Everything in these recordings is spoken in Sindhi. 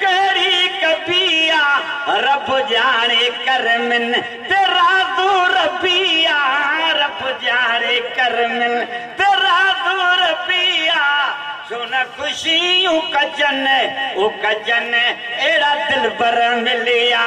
ڪهڙي ڪبي آ رب ڄاڻي ڪرمن تي رازو ربي آ رب ڄاڻي ڪرمن تي رازو ربي آ ڇو نه خوشيون ڪجن او ڪجن اهڙا دلبر مليا.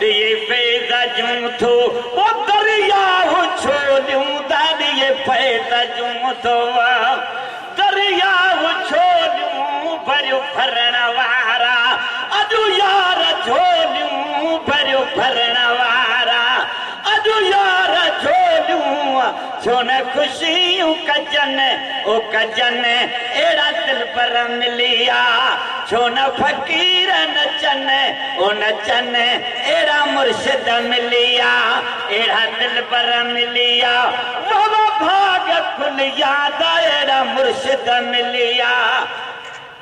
ڏيئي فيض جون ٿو او درياء ڇو ڏيون ٿا ڏيئي فيض جون ٿو او درياء ڇو ڏيون ڀريو ڀرڻ وارا اڄ يار جھوليون ڀريو ڀرڻ وارا. اڄ يار جھوليون ٿيون خوشيون ڪجن او ڪجن اھڙا دلبر مليا ڇون فقير نچن او نچن اھڙا مرشد مليا اھڙا دلبر مليا واھ واھ ڀاڳ کليا اھڙا مرشد مليا.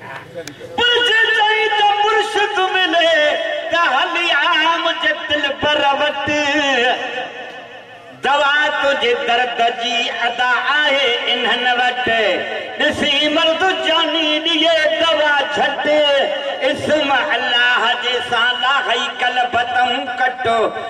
پر جي چئين ته مرشد ملي ته هلي عام جي دلبر وٽ دوا تنهنجي درد جي ادا آهي انهن وٽ ڏسي مرد جاني ڏئي دوا جهٽ اسم الله جي سان لاهي قلب تون ڪٽ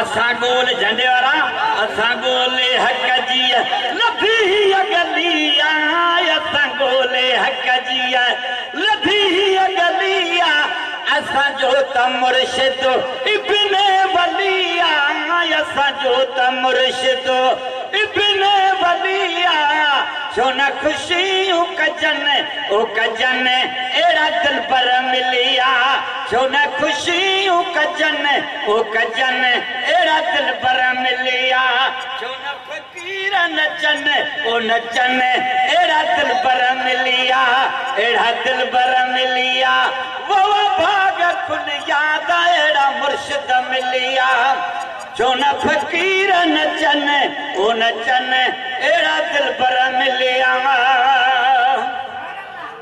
اسان گول جهنڊي وارا اسان گول حق جي لڌي هي گلي آ اسان گول حق جي لڌي هي گلي آ اسان جو ته مرشد ابن ولي آ اسان جو ته مرشد ابن ولي آ ڇو نه خوشيون ڪجن او ڪجن اهڙا دلبر ملي آ. ڇو نه خوشيون ڪجن او ڪجن اهڙا دلبر مليا ڇو نه فقير نچن او نچن اهڙا دلبر مليا اهڙا دلبر مليا ووا ڀاڳ کليا ته اهڙا مرشد مليا ڇو نه فقير نچن او نچن اهڙا دلبر مليا.